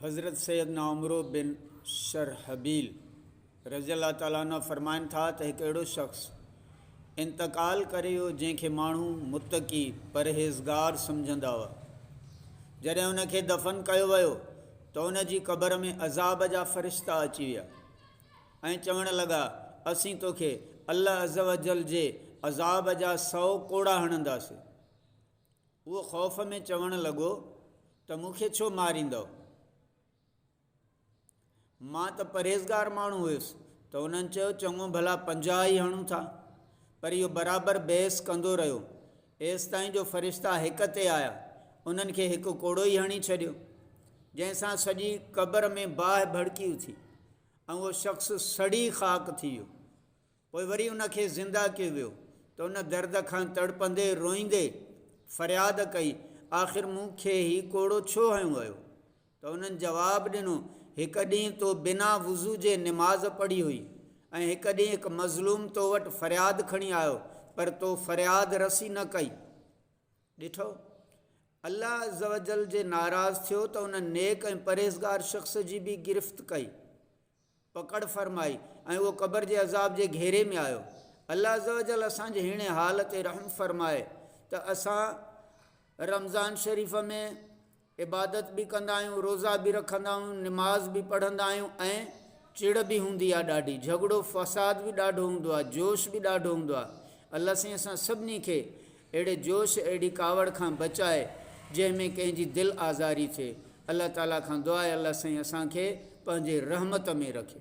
حضرت سيدنا عمرو بن شرحبيل رضي الله تعالٰي عنه فرمائن ٿا ته هڪ اهڙو شخص انتقال ڪري ويو جنهن کي ماڻهو متقي، پرهيزگار، سمجهندا هئا. جڏهن ان کي دفن ڪيو ويو ته ان جي قبر ۾ عذاب جا فرشتا اچي ويا ۽ چوڻ لڳا، اسين توکي الله عزّ وجلّ جي عذاب جا سؤ ڪوڙا هڻنداسين. اهو خوف ۾ چوڻ لڳو ته مون کي ڇو ماريندؤ؟ مان ته پرهيزگار ماڻهو هيس ته انهن چيو چڱو ڀلا پنجاهه ئي هڻون ٿا. پر اهو برابر بحث ڪندو رهيو ايستائين جو فرشتا هڪ تي آيا انهن کي هڪ ڪوڙو ئي هڻي ڇڏيو جنهن سان سڄي قبر ۾ باهه ڀڙڪي اٿي ۽ اهو شخص سڙي خاڪ ٿي ويو. پوء وري ان کي زنده ڪيو ويو ته ان درد کان تڙپندي روئيندي فرياد ڪئي آخر مون کي هي ڪوڙو ڇو هنيو ويو؟ ته انهن جواب ڏنو هڪ ڏينهن تو بنا وضو جي نماز پڙهي هئي ۽ هڪ ڏينهن هڪ مظلوم تو وٽ فرياد کڻي آيو پر تو فرياد رسي نه ڪئي ڏٺو الله عزّوجلّ جي ناراض ٿيو ته ان نيڪ ۽ پرهيزگار شخص جي به گرفت ڪئي. پڪڙ فرمائي ۽ اهو قبر جي عذاب جي گهيري ۾ آيو. الله عزّوجلّ اسان جي هيڻي حال تي رحم فرمائي ته اسان رمضان شريف ۾ عبادت به ڪندا آهيون، روزا به رکندا آهيون، نماز به پڙهندا آهيون ۽ چڙ به هوندي آهي ڏاڍي، جهڳڙو فساد به ڏاڍو هوندو آهي، جوش به ڏاڍو هوندو آهي. الله سائين اسان سڀني کي اهڙي جوش اهڙي ڪاوڙ کان بچاء جنهن ۾ ڪنهن جي دل آزاري ٿئي الله تعالي کان دعا اي الله سائين اسان کي پنهنجي رحمت ۾ رکي.